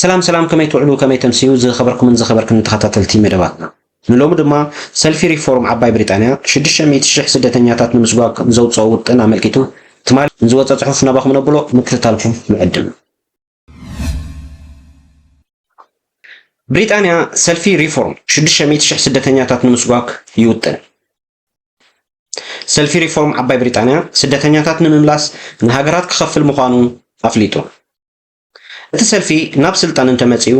ሰላም ሰላም ከመይ ትውዕሉ ከመይ ተምስዩ ዝኸበርኩምን ዝኸበርክን ተኸታተልቲ መደባትና ንሎሚ ድማ ሰልፊ ሪፎርም ዓባይ ብሪጣንያ 600,000 ስደተኛታት ንምስጓግ ንዘውፅኦ ውጥን ኣመልኪቱ ትማሊ ንዝወፀ ፅሑፍ ናባኹም ነብሎ ምክትታልኩም ንዕድም ብሪጣንያ ሰልፊ ሪፎርም ሽዱሽተ ሚእቲ ሽሕ ስደተኛታት ንምስጓግ ይውጥን። ሰልፊ ሪፎርም ዓባይ ብሪጣንያ ስደተኛታት ንምምላስ ንሃገራት ክኸፍል ምዃኑ ኣፍሊጡ። እቲ ሰልፊ ናብ ስልጣን እንተመጺኡ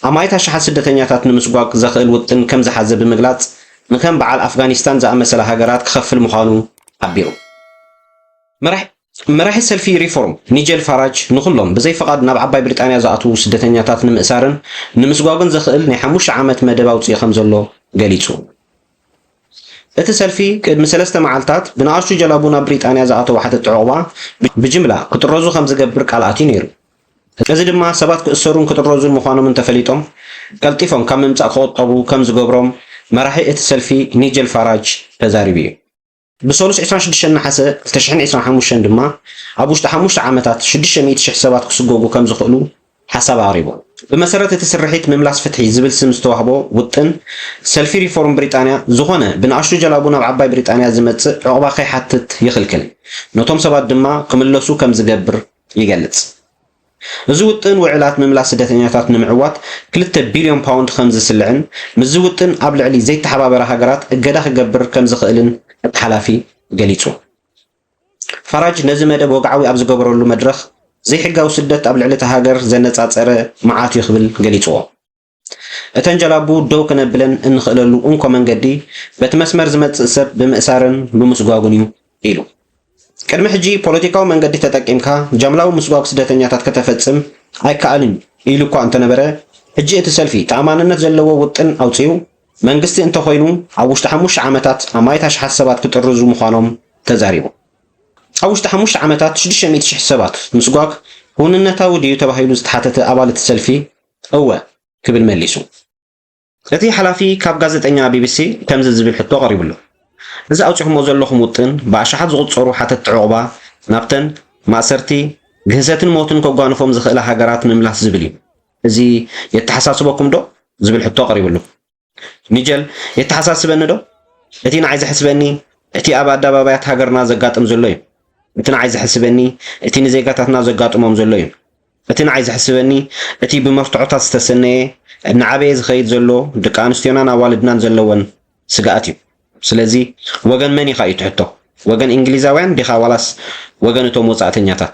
ኣማኢት ኣሽሓት ስደተኛታት ንምስጓግ ዘኽእል ውጥን ከም ዝሓዘ ብምግላጽ ንከም በዓል ኣፍጋኒስታን ዝኣመሰላ ሃገራት ክኸፍል ምዃኑ ሓቢሩ። መራሒ ሰልፊ ሪፎርም፣ ኒጀል ፋራጅ፣ ንኹሎም ብዘይ ፍቓድ ናብ ዓባይ ብሪጣንያ ዝኣትዉ ስደተኛታት ንምእሳርን ንምስጓጕን ዘኽእል ናይ ሓሙሽተ ዓመት መደብ ኣውጺኡ ከምዘሎ ገሊጹ። እቲ ሰልፊ፣ ቅድሚ ሰለስተ መዓልታት ብንኣሽቱ ጀላቡ ናብ ብሪጣንያ ዝኣተዉ ሓተቲ ዑቕባ ብጅምላ ክጥረዙ ከምዝገብር ቃል ኣትዩ ነይሩ። እዚ ድማ ሰባት ክእሰሩን ክጥረዙን ምዃኖም እንተፈሊጦም ቀልጢፎም ካብ ምምጻእ ክቑጠቡ ከምዝገብሮም መራሒ እቲ ሰልፊ ኒጀል ፋራጅ ተዛሪቡ'ዩ። ብሰሉስ ዕስራን ሽዱሽተን ነሓሰ ክልተ ሽሕን ዕስራን ሓሙሽተን ድማ ኣብ ውሽጢ ሓሙሽተ ዓመታት ሽዱሽተ ሚእቲ ሽሕ ሰባት ክስጎጉ ከምዝኽእሉ ሓሳብ ኣቕሪቡ። ብመሰረት እቲ ስርሒት ምምላስ ፍትሒ ዝብል ስም ዝተዋህቦ ውጥን፣ ሰልፊ ሪፎርም ብሪጣንያ ዝኾነ ብንኣሽቱ ጀላቡ ናብ ዓባይ ብሪጣንያ ዝመጽእ ዑቕባ ከይሓትት ይኽልክል፣ ነቶም ሰባት ድማ ክምለሱ ከምዝገብር ይገልጽ። እዚ ውጥን ውዕላት ምምላስ ስደተኛታት ንምዕዋት ክልተ ቢልዮን ፓውንድ ከም ዝስልዕን ምስዚ ውጥን ኣብ ልዕሊ ዘይተሓባበራ ሃገራት እገዳ ክገብር ከም ዝኽእልን እቲ ሓላፊ ገሊጹ። ፋራጅ ነዚ መደብ ወግዓዊ ኣብ ዝገበረሉ መድረኽ ዘይሕጋዊ ስደት ኣብ ልዕሊ እታ ሃገር ዘነጻጸረ መዓት'ዩ ክብል ገሊጽዎ። እተን ጀላቡ ደው ክነብለን እንኽእለሉ እንኮ መንገዲ በቲ መስመር ዝመጽእ ሰብ ብምእሳርን ብምስጓጉን እዩ ኢሉ። ቅድሚ ሕጂ ፖለቲካዊ መንገዲ ተጠቂምካ ጃምላዊ ምስጓግ ስደተኛታት ከተፈጽም ኣይከኣልን እዩ ኢሉ እኳ እንተነበረ፣ ሕጂ እቲ ሰልፊ ተኣማንነት ዘለዎ ውጥን ኣውጺኡ መንግስቲ እንተኾይኑ ኣብ ውሽጢ ሓሙሽተ ዓመታት ኣማኢት ኣሽሓት ሰባት ክጥርዙ ምዃኖም ተዛሪቡ። ኣብ ውሽጢ ሓሙሽተ ዓመታት ሽዱሽተ ሚእቲ ሽሕ ሰባት ምስጓግ ክውንነታዊ ድዩ ተባሂሉ ዝተሓተተ ኣባል እቲ ሰልፊ፣ እወ ክብል መሊሱ። እቲ ሓላፊ ካብ ጋዜጠኛ ቢቢሲ ከምዚ ዝብል ሕቶ ቀሪብሉ፣ እዚ ኣውጺኹሞ ዘለኹም ውጥን ብኣሽሓት ዝቑጸሩ ሓተትቲ ዑቕባ ናብተን ማእሰርቲ፣ ግህሰትን ሞትን ከጓንፎም ዝኽእላ ሃገራት ምምላስ ዝብል እዩ። እዚ የተሓሳስበኩምዶ? ዝብል ሕቶ ቀሪብሉ። ሚጀል የተሓሳስበኒ ዶ እቲ ንዓይ ዘሕስበኒ እቲ ኣብ ኣደባባያት ሃገርና ዘጋጥም ዘሎ እዩ እቲ ንዓይ ዘሕስበኒ እቲ ንዜጋታትና ዘጋጥሞም ዘሎ እዩ እቲ ንዓይ ዘሕስበኒ እቲ ብመርትዖታት ዝተሰነየ እናዓበየ ዝኸይድ ዘሎ ደቂ ኣንስትዮናን ኣዋልድናን ዘለወን ስግኣት እዩ ስለዚ ወገን መን ኢኻ እዩ ትሕቶ ወገን እንግሊዛውያን ዲኻ ዋላስ ወገን እቶም ወፃእተኛታት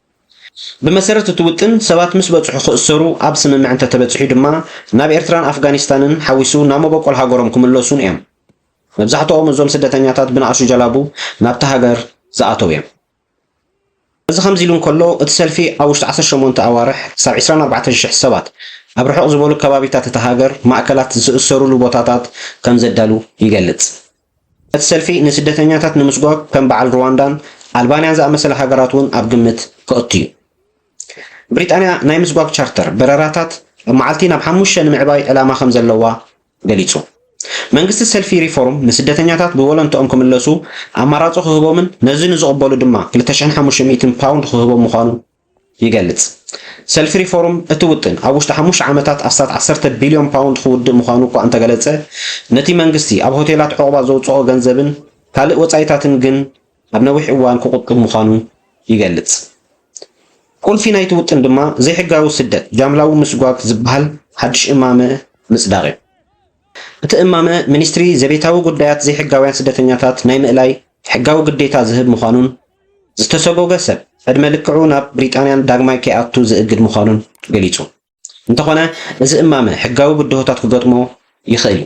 ብመሰረት እቲ ውጥን ሰባት ምስ በጽሑ ክእሰሩ ኣብ ስምምዕ እንተተበጺሑ ድማ ናብ ኤርትራን ኣፍጋኒስታንን ሓዊሱ ናብ መበቆል ሃገሮም ክምለሱን እዮም። መብዛሕትኦም እዞም ስደተኛታት ብንኣሽቱ ጀላቡ ናብታ ሃገር ዝኣተው እዮም። እዚ ከምዚ ኢሉ እንከሎ እቲ ሰልፊ ኣብ ውሽጢ ዓሰርተ ሸሞንተ ኣዋርሕ ክሳብ ዕስራን ኣርባዕተን ሽሕ ሰባት ኣብ ርሑቕ ዝበሉ ከባቢታት እታ ሃገር ማእከላት ዝእሰሩሉ ቦታታት ከምዘዳሉ ይገልጽ። እቲ ሰልፊ ንስደተኛታት ንምስጓግ ከም በዓል ሩዋንዳን ኣልባንያን ዝኣመሰላ ሃገራት እውን ኣብ ግምት ከእቱ እዩ። ብሪጣንያ ናይ ምስጓግ ቻርተር በረራታት ኣብ መዓልቲ ናብ ሓሙሽተ ንምዕባይ ዕላማ ከም ዘለዋ ገሊጹ። መንግስቲ ሰልፊ ሪፎርም ንስደተኛታት ብቮለንትኦም ክምለሱ ኣማራጺ ክህቦምን ነዚ ንዝቕበሉ ድማ ክልተ ሽሕን ሓሙሽተ ሚእትን ፓውንድ ክህቦም ምዃኑ ይገልጽ። ሰልፊ ሪፎርም እቲ ውጥን ኣብ ውሽጢ ሓሙሽተ ዓመታት ኣስታት ዓሰርተ ቢልዮን ፓውንድ ክውድእ ምዃኑ እኳ እንተገለጸ፣ ነቲ መንግስቲ ኣብ ሆቴላት ዑቕባ ዘውጽኦ ገንዘብን ካልእ ወጻኢታትን ግን ኣብ ነዊሕ እዋን ክቑጥብ ምዃኑ ይገልጽ። ቁልፊ ናይቲ ውጥን ድማ ዘይሕጋዊ ስደት፣ ጃምላዊ ምስጓግ ዝበሃል ሓድሽ እማመ ምጽዳቕ'ዩ። እቲ እማመ ሚኒስትሪ ዘቤታዊ ጉዳያት ዘይሕጋውያን ስደተኛታት ናይ ምእላይ ሕጋዊ ግዴታ ዝህብ ምዃኑን ዝተሰጎገ ሰብ ዕድመ ልክዑ ናብ ብሪጣንያን ዳግማይ ከይኣቱ ዝእግድ ምዃኑን ገሊጹ። እንተኾነ እዚ እማመ ሕጋዊ ብድሆታት ክገጥሞ ይኽእል እዩ።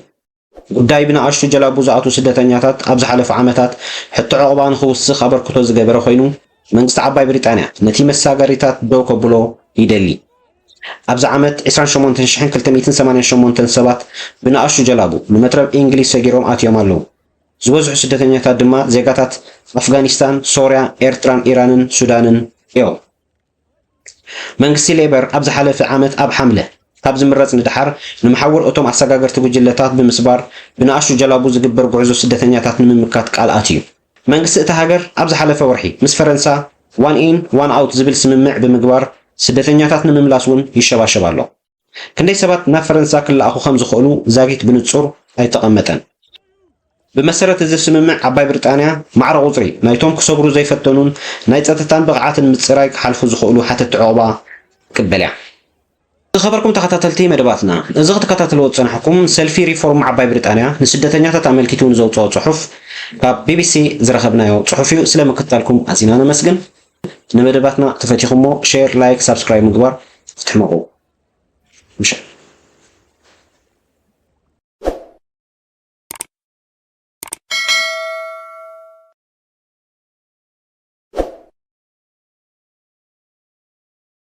ጉዳይ ብንኣሽቱ ጀላቡ ዝኣትዉ ስደተኛታት ኣብ ዝሓለፉ ዓመታት ሕቶ ዑቕባ ንኽውስኽ ኣበርክቶ ዝገበረ ኮይኑ፣ መንግስቲ ዓባይ ብሪጣንያ ነቲ መሳገሪታት ደው ከብሎ ይደሊ። ኣብዚ ዓመት ዕስራን ሸሞንተን ሽሕን ክልተ ሚእትን ሰማንያን ሸሞንተን ሰባት ብንኣሽቱ ጀላቡ ንመትረብ ኢንግሊዝ ሰጊሮም ኣትዮም ኣለዉ። ዝበዝሑ ስደተኛታት ድማ ዜጋታት ኣፍጋኒስታን፣ ሶርያ፣ ኤርትራን ኢራንን ሱዳንን እዮም። መንግስቲ ሌበር ኣብ ዝሓለፈ ዓመት ኣብ ሓምለ ካብ ዝምረጽ ንደሓር ንመሓውር እቶም ኣሰጋገርቲ ጉጅለታት ብምስባር ብንኣሽቱ ጀላቡ ዝግበር ጉዕዞ ስደተኛታት ንምምካት ቃል ኣትዩ። መንግስቲ እታ ሃገር ኣብ ዝሓለፈ ወርሒ ምስ ፈረንሳ ዋን ኢን ዋን ኣውት ዝብል ስምምዕ ብምግባር ስደተኛታት ንምምላስ እውን ይሸባሸብ ኣሎ። ክንደይ ሰባት ናብ ፈረንሳ ክለኣኹ ከም ዝኽእሉ ዛጊት ብንጹር ኣይተቐመጠን። ብመሰረት እዚ ስምምዕ ዓባይ ብሪጣንያ ማዕረ ቁጽሪ ናይቶም ክሰግሩ ዘይፈተኑን ናይ ጸጥታን ብቕዓትን ምጽራይ ክሓልፉ ዝኽእሉ ሓተቲ ዑቕባ ክትቅበል እያ። ዝኸበርኩም ተኸታተልቲ መደባትና፣ እዚ ክትከታተልዎ ዝጸናሕኩም ሰልፊ ሪፎርም ዓባይ ብሪጣንያ ንስደተኛታት ኣመልኪቱ ንዘውጽኦ ጽሑፍ ካብ ቢቢሲ ዝረኸብናዮ ጽሑፍ'ዩ። ስለ ምክትታልኩም ኣዚና ነመስግን። ንመደባትና ተፈቲኹሞ ሼር ላይክ ሳብስክራይብ ምግባር ክትሕመቑ ምሸት